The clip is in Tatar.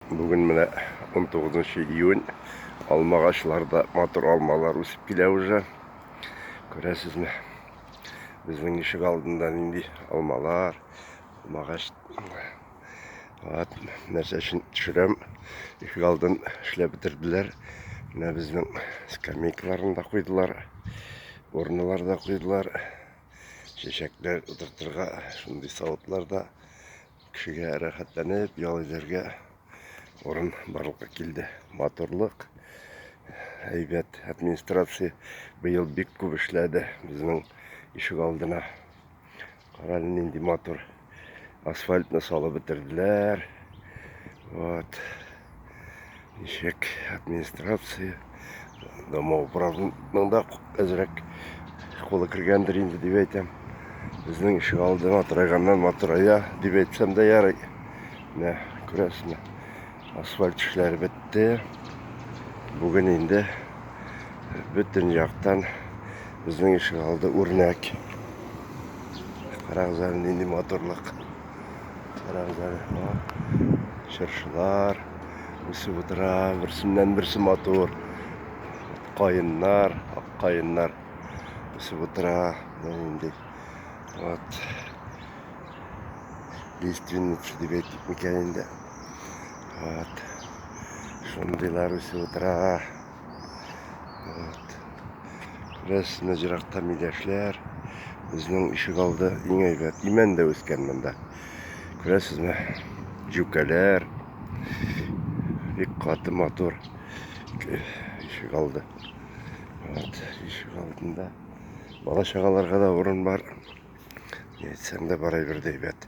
Бүген менә 19 июнь, алмагачларда матур алмалар үсеп килә уже. Күрәсезме? Безнең ишек алдында нинди алмалар, алмагач. Вот, нәрсә өчен төшерәм. Ишек алдын эшләп бетерделәр. Менә безнең скамейкаларын да куйдылар. Урыннар да куйдылар. Чәчәкләр утыртырга шундый савытлар да Кешегә рәхәтләнеп ял итәргә урын барлыкка килде. Матурлык, әйбәт администрация быел бик күп эшләде безнең ишек алдына. Кара нинди матур асфальтны салып бетерделәр. Вот. Ничек администрация, домоуправның да әзрәк кулы кергәндер инде дип әйтәм. Безнең ишек алды матырайганнан матырая дип әйтсәм дә ярый. Менә күрәсезме, асфальт эшләре бетте. Бүген инде бөтен яктан безнең ишек алды үрнәк. Карагыз әле нинди матурлык. Таравзары бар. Чыршылар үсеп утыра. Берсеннән берсе матур. Каеннар, ак каеннар үсеп утыра. Инде. Вот. Лиственница дип әйтик микән инде. Вот. Шундыйлар үсеп утыра. Күрәсезме, еракта миләшләр. Безнең ишек алды иң әйбәт. Имән дә үскән монда. Күрәсезме? Җүкәләр. Бик каты матур ишек алды. Вот, ишек алдында бала чагаларга да урын бар. Әйтсәң дә барай бер әйбәт.